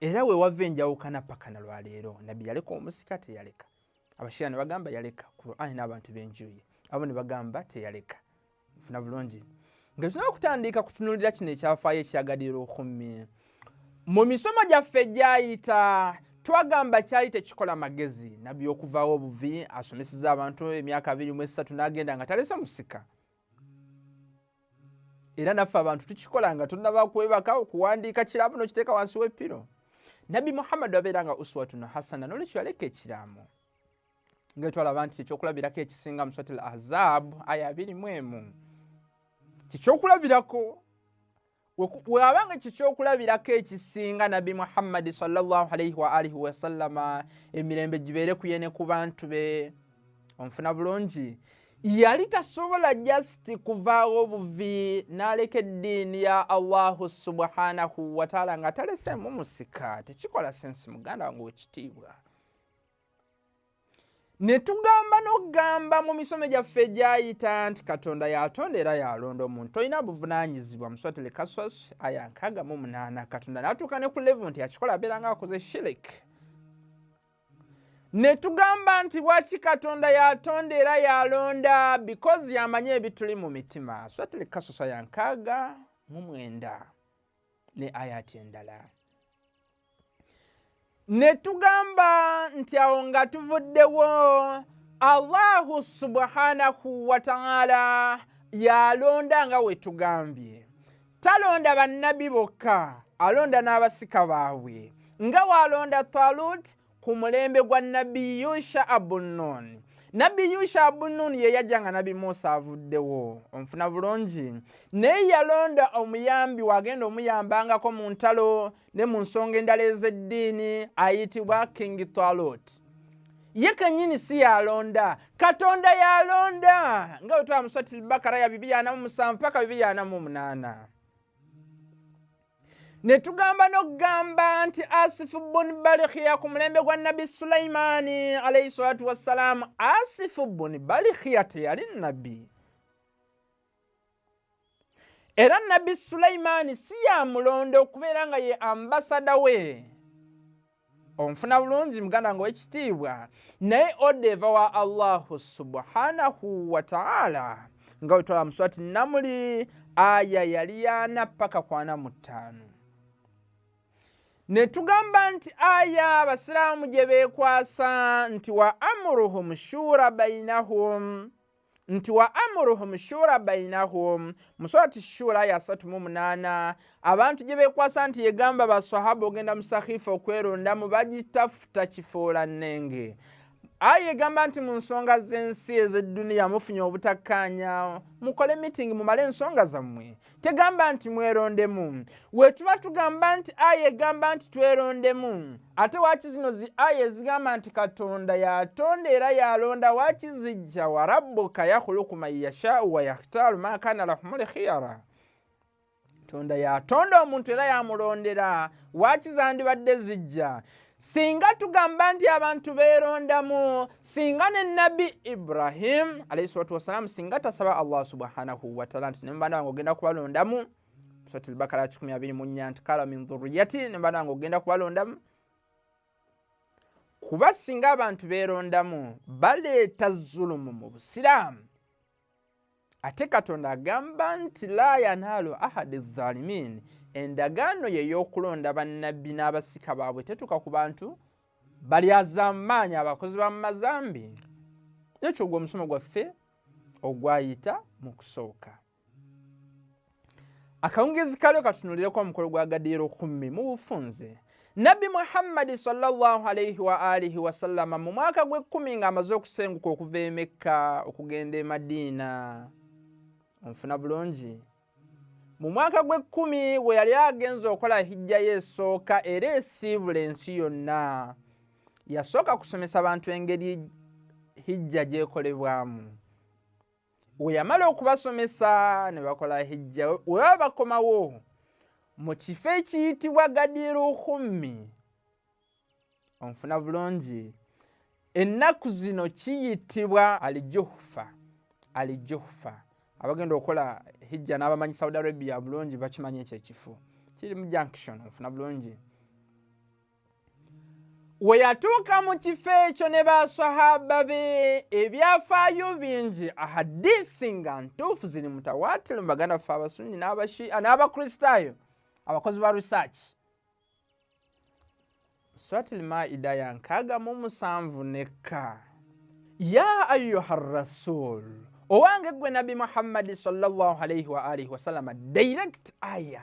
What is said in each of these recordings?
era wewava enjawukana paka na lwaleero nabbi yaleka omusika teyaleka abashira ne bagamba yaleka qurani n'abantu benjuye abo ne bagamba teyaleka funa bulungi nga tulina okutandika kutunulira kino ekyafaayo ekyagadira okhumi mu misomo gyaffe gyayita twagamba kyali tekikola magezi nabbi okuvawo obuvi asomeseza abantu emyaka abiri mu esatu n'agenda nga talese musika era naffe abantu tukikola nga tunaba kwebaka okuwandiika kiraamo nokiteeka wansi wepiro nabbi muhammadi abeera nga uswatun hasana nolwekyo yaleka ekiraamo nga etwalaba nti kyekyokulabirako ekisinga muswati l ahzab aya abiri mu emu kikyokulabirako waba nga ekyo kyokulabirako ekisinga nabbi muhammadi salllahalaihi waalihi wasallama emirembe gibeere kuye ne ku bantu be onfuna bulungi yali tasobola jasiti kuvaawo buvi n'aleka eddiini ya allahu subhanahu wataala nga taleseemu musika tekikola sensi muganda wange wekitiibwa ne tugamba n'okugamba mu misomo gyaffe egyayita nti katonda yatonda era yalonda omuntu tolina buvunaanyizibwa muswatele kaswas aya nkaaga mu munaana katonda n'atuuka ne ku levu nti akikola abeera nga akoze shirik ne tugamba nti waki katonda yatonda era yalonda bikozi yamanyi ebituli mu mitima swatele kaswas aya nkaaga mu mwenda ne ayati endala ne tugamba nti awo nga tuvuddewo allahu subhanahu wataala yalonda nga wetugambye talonda bannabi bokka alonda n'abasika baabwe nga waalonda talut ku mulembe gwa nabbi yusha abununi nabbi yusha abununi ye yajja nga nabbi musa avuddewo onfuna bulungi naye yalonda omuyambi wagenda omuyambangako mu ntalo ne mu nsonga endala ez'eddiini ayitibwa king talot ye kenyini si yalonda katonda yalonda nga wetwamusatiri bakara ya bibi yanamu musanvu paka bibi yanamu omunaana ne tugamba n'okugamba nti asifu bun balikhiya ku mulembe gwa nabbi sulaimaani alaihi salatu wassalaamu asifu bun balikhiya teyali nabbi era nabbi sulaimaani si yamulonda okubeera nga ye ambasada we onfuna bulungi muganda nga owekitiibwa naye oda eva wa allahu subhanahu wataala nga wetwala muswati namuli aya yali yana paka kwana mu ttaano netugamba nti aya abasiraamu gye beekwasa nti wa amuruhum shura bainahum nti wa amuruhum shura bainahum musurati shura ya satu mu munana abantu gye bekwasa nti yegamba basahaba ogenda musakhifa okwerondamu bagitafuta kifuula nnenge ayi egamba nti mu nsonga z'ensi ez'edduniya mufunye obutakkaanya mukole mitingi mumale ensonga zammwe tegamba nti mwerondemu wetuba tugamba nti aya egamba nti twerondemu ate waki zino zi aya ezigamba nti katonda yatonda era yalonda waki zijja warabuka yakhuluku man yashau wayakhtaru ma kana lahumuli khiyara tonda yatonda omuntu era yamulondera waki zandibadde zijja singa tugamba nti abantu beerondamu singa ne nabbi ibrahim alaihi salatu wassalamu singa tasaba allah subhanahu wataala nti nemubanda wange ogenda kubalondamu sotulbakala 124 nti kala min dhuriyati nemubanda wange ogenda kubalondamu kuba singa abantu beerondamu baleeta zulumu mu busiraamu ate katonda agamba nti la yanaalu ahadi zalimin endagaano ye y'okulonda bannabbi n'abasika baabwe tetuuka ku bantu balyazamaanyi abakozi ba mumazambi nekyo ogwo omusomo gwaffe ogwayita mu kusooka akawungeezi kalyo katunuulireko omukolo gwa gadiiro kummi mu bufunze nabbi muhammadi salaalaihi waalihi wasallama mu mwaka gw'ekkumi ng'amaze okusenguka okuva emekka okugenda e madiina onfuna bulungi mu mwaka gw'ekkumi we yali agenza okukola hijjayo esooka era esiibula ensi yonna yasooka kusomesa bantu engeri hijja gyekolebwamu weyamala okubasomesa ne bakola hijja webaba bakomawo mu kifo ekiyitibwa gadiru hummi onfuna bulungi ennaku zino kiyitibwa alijuhufa alijuhufa abagenda okukola hijja n'abamanyi saudi arabia bulungi bakimanyi ekyo ekifo kiri mu junction onfuna bulungi we yatuuka mu kifo ekyo ne baswahaba be ebyafaayo bingi ahadisi nga ntuufu ziri mutawaatiro mu baganda ffe abasunni n'abashiia n'abakristaayo abakozi ba research swatil maida ya nkaaga mu musanvu nekka ya ayuha rasul owange ggwe nabbi muhammadi sallallahu alaihi wa alihi wasalama direct aya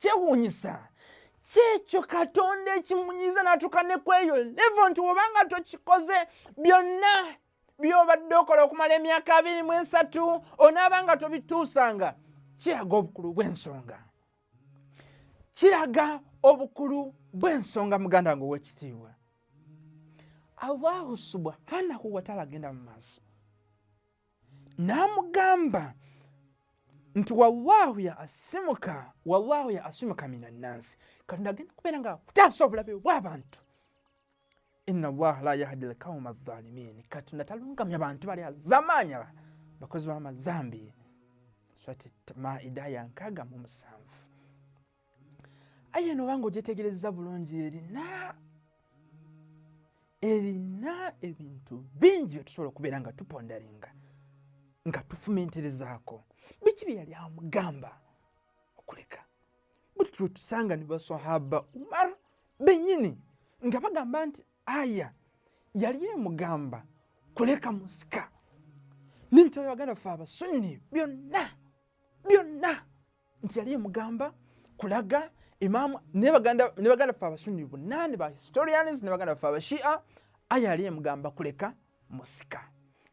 kyewuunyisa kyekyo katonda ekimunyiza natuuka ne kweyo levo nti obanga tokikoze byonna byobadde okola okumala emyaka abiri mu esatu onaaba nga tobituusanga kiraga obukulu bw'ensonga kiraga obukulu bw'ensonga muganda nga owekitiibwa allahu subhanahu wataala agenda mu maaso n'amugamba nti wallahu ya asimuka wallahu ya asimuka mina nansi katonda agenda kubeera nga kutaasa obulabe bw'abantu inna allaha la yahdi lkauma adhalimin katonda talungamya bantu bali azamaanya bakozi b'amazambi swati maida ya nkaaga mu musanvu aye eno obanga ogyetegereza bulungi erina erina ebintu bingi byetusobola okubeera nga tupondaringa nga tufumintirizaako biki bye yali amugamba okuleka buli tulwe tusanga ne basahaba umar benyini nga bagamba nti aya yali emugamba kuleka musika n'ebitabo byabaganda ffe abasunni byonna byonna nti yali emugamba kulaga imamu ne baganda ffe abasunni bonna ne ba historians ne baganda ffe abashia aya yali emugamba kuleka musika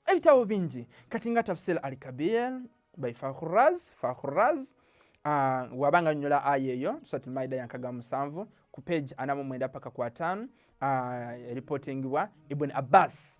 ebitabo bingi kati nga tafsir al kabir by fakhuraz fakhuraz uh, wabanga nyola aya eyo suratul maida yankaga musanvu ku page anamu mwenda paka ku ataano uh, ah, reportingibwa ibn abbas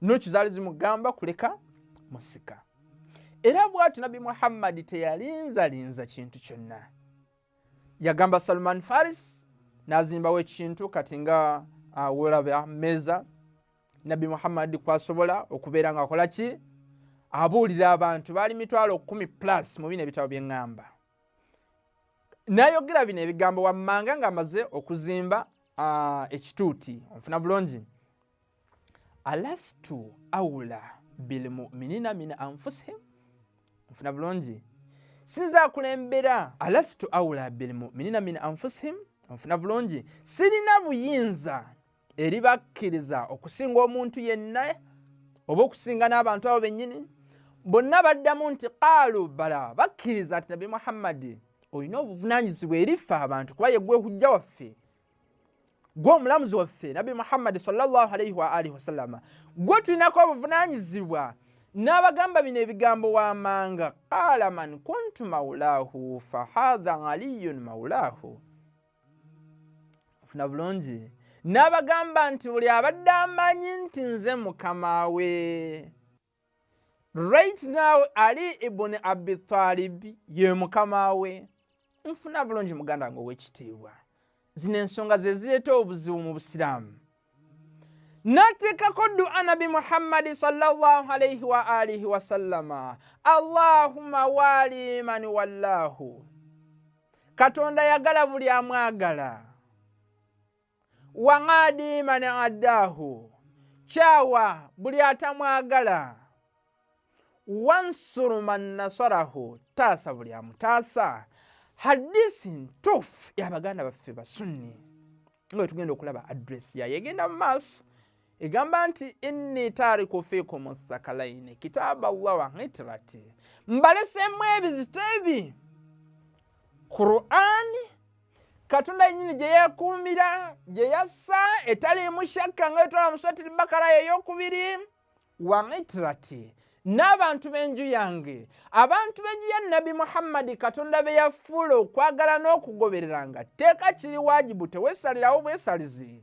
noki zaali zimugamba kuleka musika era bwati nabbi muhammadi teyalinzalinza kintu kyonna yagamba salman faris nazimbawo ekintu kati nga awolaba ah, meeza nabbi muhammadi kwasobola okubeera nga akola ki abuulira abantu baali mitwalo kumi plus mu bino ebitabo byeŋŋamba nayogera bino ebigambo wammanga ng'amaze okuzimba ah, ekituuti onfuna bulungi alastu aula bilmuminina min anfusihim nfuna bulungi sinza akulembera alastu aula bilmuminina min anfusihim nfuna bulungi sirina buyinza eri bakkiriza okusinga omuntu yenna oba okusinga n'abantu abo bennyini bonna baddamu nti qaalu bala bakkiriza ati nabi muhammadi olina obuvunanyizibwa erifa abantu kuba yegwehujja waffe gwe omulamuzi waffe nabbi muhammadi salllah alaihi waalihi wasallama gwe tulinako obuvunanyizibwa n'abagamba bino ebigambo wamanga qaala man kuntu maulahu fahatha aliyun maulahu ofuna bulungi n'abagamba nti buli abadde amanyi nti nze mukama we right now ali ibuni abitalibi ye mukama we nfuna bulungi muganda wange owekitiibwa zino ensonga zezireeta obuzibu mu busiraamu nateekako dua nabi muhammadi salaalaihi waalihi wasallama allahuma walimani wallahu katonda yagala buli amwagala wang'adi mani adaahu kyawa buli atamwagala wansuru man nasarahu taasa buli amutaasa hadisi ntuufu yabaganda baffe basunni nga wetugenda okulaba adresi yayo egenda mu maaso egamba nti inni tariku fikum thakalaini kitaaba llah wa hitirati mbalesemu ebizito ebi qurani katonda yenyini gye yeekuumira gye yassa etaliimu shakka nga etwala muswatiri bakara yeyokubiri wa hitirati n'abantu b'enju yange abantu b'enju ya nabbi muhammadi katonda be yafuula okwagala n'okugobereranga tteeka kiri waajibu tewesalirawo bwesalizi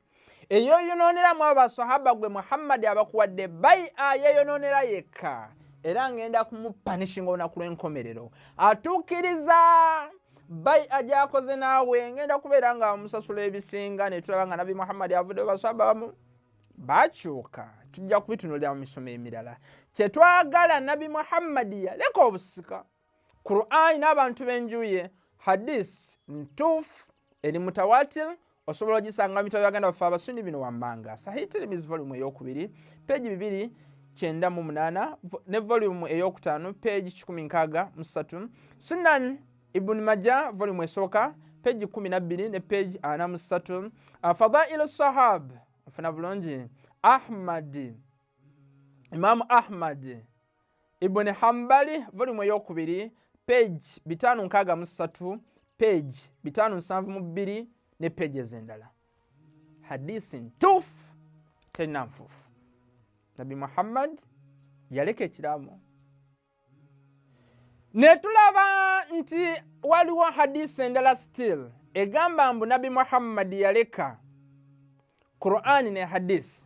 eyoyonooneramu abo basahaba gwe muhammadi abakuwadde bai ayeyonoonera yekka era ngenda kumupanishinga olunaku lw'enkomerero atuukiriza bai ajakoze naawe ngenda kubeera nga musasula ebisinga netulaba nga nabbi muhammadi avudde basahaba bamu bakyuka tujja kubitunulira mu misomo emirala kyetwagala nabbi muhammadi yaleka obusika qurani n'abantu b'enjuye hadis ntuufu eri mutawatir osobola ogisanga mitabo yaganda baffe abasuni bino wammanga sahi tirimizi volumu eyokubiri peegi bibiri kyenda mu munaana ne volumu eyokutaano peegi kikumi nkaaga mu ssatu sunan ibuni maja volumu esooka peegi kumi nabbiri ne peegi ana mu ssatu fadailu sahab ofuna bulungi ahmadi Imaamu Ahmadi Ibuni Hambali volumu eyokubiri page bitaano nkaaga mu ssatu page bitaano nsanvu mu bbiri ne page ez'endala hadisi ntuufu terina nfuufu Nabi Muhammad yaleka ekiraamo ne tulaba nti waliwo hadisi endala still egamba mbu nabbi muhammadi yaleka qurani ne hadisi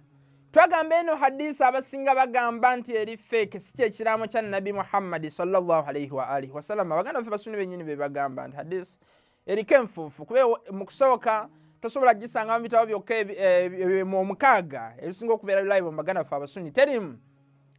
twagamba eno hadisi abasinga bagamba nti eri feeke si kyekiraamo kya nabbi muhammadi salllahalaihi waalihi wasalama baganda fe basuni benyini bebagamba nti hadisi eriko enfuufu kuba mu kusooka tosobola gisanga mu bitabo byokka eh, mu omukaaga ebisinga okubeera live mu baganda ffe abasunyi terimu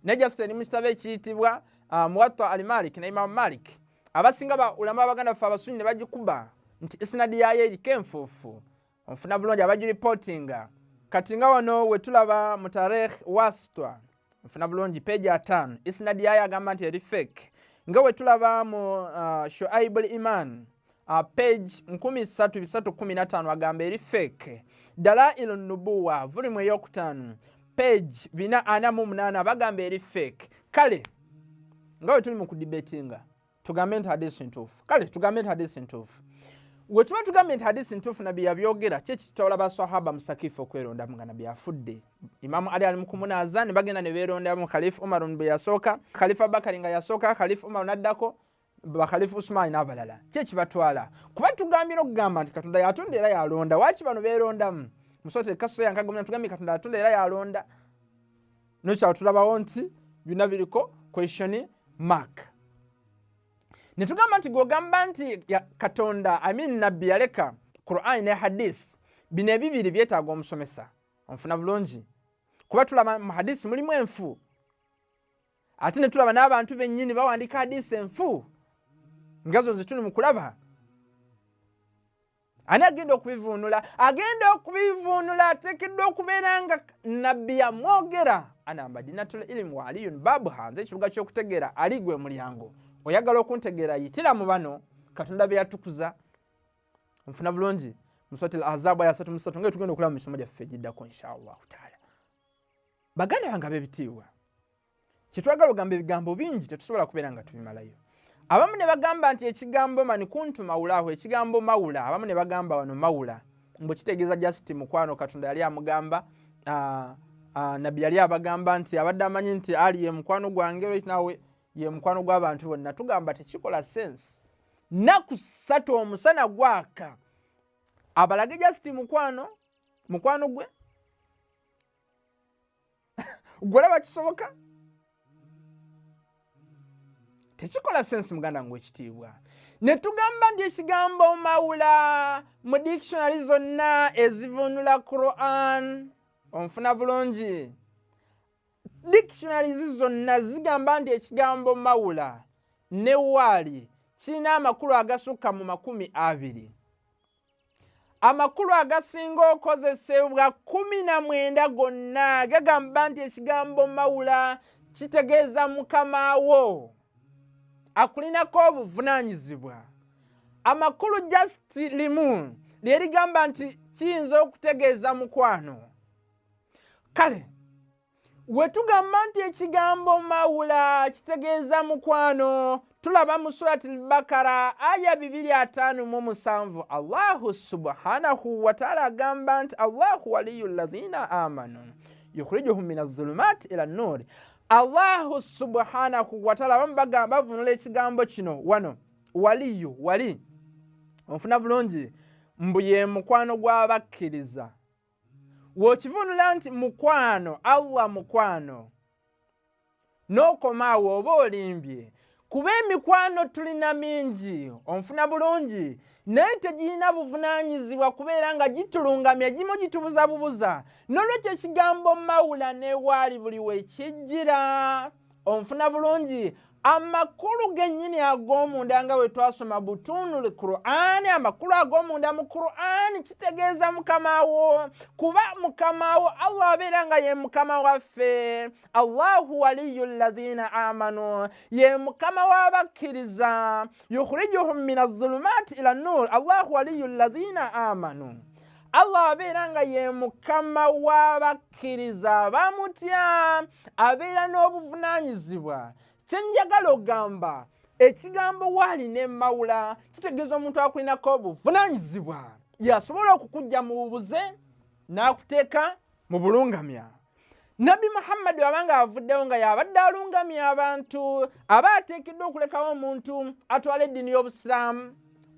naye just eri mu kitabo ekiyitibwa ah, muwatta al malik ne imamu malik abasinga baulama abaganda ffe abasunyi ne bagikuba nti esinadi yaayo eriko enfuufu onfuna bulungi abaju reportinga kati nga wano wetulaba mu tarikh wasitwa nfuna bulungi peji ataano isinadi yayo agamba nti eri fake nga wetulaba mu uh, shuaibul iman uh, page 1315 agamba eri fake dalailu nubuwa vulimu eyokutaano page 448 bagamba eri fake kale nga wetuli mu kudibetinga tugambe nti hadisi ntuufu kale tugambe nti hadisi ntuufu wetuba tugambe nti hadisi ntuufu nabbi yabyogera ki ekitawula basahaba musakifu okwerondamu nga nabbi afudde imamu ali ali mukumunaza ne bagenda ne beerondamu khalifu umarun bwe yasooka khalifu abakari nga yasooka khalifu umaru naddako bakhalifu usumani n'abalala ki ekibatwala kuba tugambira okugamba nti katonda yatonda era yalonda waki bano beerondamu musote kasoya nkagomya tugambye katonda yatonda era yalonda nokyalo tulabawo nti byonna biriko question mark ne tugamba nti gwogamba nti katonda amin nabbi yaleka qurani ne hadis bino ebibiri byetaaga omusomesa onfuna bulungi kuba tulaba mu hadisi mulimu enfu ate ne tulaba n'abantu bennyini bawandiika hadisi enfu nga zo zituli mu kulaba ani agenda okubivuunula agenda okubivuunula ateekeddwa okubeera nga nabbi yamwogera ana madinatul ilimu wa aliyun baabu hanze ekibuga ky'okutegeera ali gwe mulyango oyagala okuntegeera yitira mu bano katonda be yatukuza nfuna bulungi muswati lahazabu aya satu musatu nga etugenda okulaba mu misomo gyaffe egiddako inshaallahu taala baganda bange ab'ebitiibwa kyetwagala ogamba ebigambo bingi tetusobola kubeera nga tubimalayo abamu ne bagamba nti ekigambo mani kuntu mawulaaho ekigambo mawula abamu ne bagamba wano mawula mbu kitegeeza just mukwano katonda yali amugamba ah, ah, nabbi yali abagamba nti abadde amanyi nti ali ye mukwano gwange nawe ye mukwano gw'abantu bonna tugamba tekikola sense naku satu omusana gwaka abalage just mukwano mukwano gwe gwe olaba kisoboka tekikola sensi muganda ngu ekitiibwa ne tugamba nti ekigambo mawula mu dictionary zonna ezivunula quran onfuna bulungi dictionaries zonna zigamba nti ekigambo mawula ne waali kirina amakulu agasukka mu makumi abiri amakulu agasinga okozesebwa kumi na mwenda gonna gagamba nti ekigambo mawula kitegeeza mukama wo akulinako obuvunaanyizibwa amakulu just limu lye ligamba nti kiyinza okutegeeza mukwano kale wetugamba nti ekigambo mawula kitegeeza mukwano tulaba mu surat lbakara aya 257 allahu subhanahu wataala agamba nti allahu waliyu lazina amanu yukhrijuhum min azulumat ila nuuri allahu subhanahu wataala bamu bagamba bavunula ekigambo kino wano waliyu wali onfuna bulungi mbu ye mukwano gw'abakkiriza w'okivunula nti mukwano allah mukwano n'okomaawo oba olimbye kuba emikwano tulina mingi onfuna bulungi naye tegirina buvunaanyizibwa kubeera nga gitulungamya gimu gitubuza bubuza n'olwekyo ekigambo mawula newaali buli wekijjira onfuna bulungi amakulu gennyini ag'omunda nga we twasoma butunul qurani amakulu ag'omunda mu qurani kitegeeza mukama wo kuba mukama wo allah abeera nga ye mukama waffe allahu waliyu llazina amanu ye mukama w'abakkiriza yukhrijuhum min azulumaati ila nur allahu waliyu llazina amanu Allah abeera nga ye mukama w'abakkiriza abamutya abeera n'obuvunaanyizibwa kye njagala okugamba ekigambo waali ne mawula kitegeeza omuntu akulinako obuvunaanyizibwa yasobola okukujja mu bubuze n'akuteeka mu bulungamya nabbi muhammadi aba nga avuddewo nga yabadde alungamya abantu aba ateekeddwa okulekawo omuntu atwala eddiini y'obusiraamu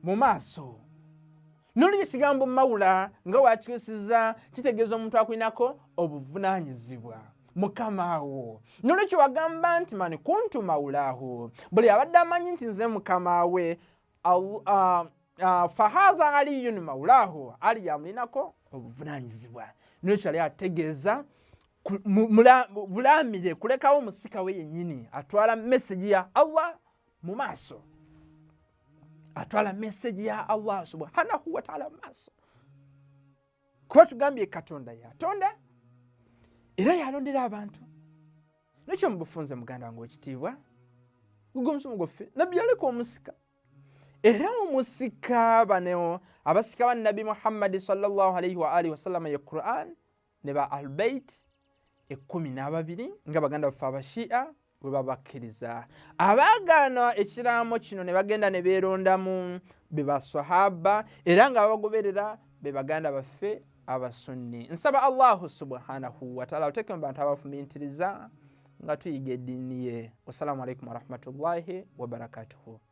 mu maaso nolwekyo ekigambo mawula nga wakyusiza kitegeeza omuntu akulinako obuvunanyizibwa mukama wo nolwekyo wagamba nti mani kuntu mawulaahu buli abadde amanyi nti nze mukama we fahaza aliyun mawulaahu ali yamulinako obuvunanyizibwa nolwekyo ali ategeeza bulamire kulekawo musika we yenyini atwala meseji ya allah mu maaso atwala meseji ya allah subhanahu wataala maaso kuba tugambye katonda yatonda era yalondera abantu nekyo mubufunze muganda wange wekitiibwa guga omusomo gwaffe nabbi yaleka omusika era omusika bano abasika ba nabbi muhammadi salllahalaihi waalihi wasallama ye quran ne ba albeiti ekkumi n'ababiri nga baganda baffe abashiya bwe babakkiriza abaagaana ekiraamo kino ne bagenda ne beerondamu be basahaba era nga babagoberera be baganda baffe abasunni nsaba allahu subhanahu wataala oteeke mu bantu abafumintiriza nga tuyiga eddiini ye wassalamu alaikum warahmatullahi wabarakatuhu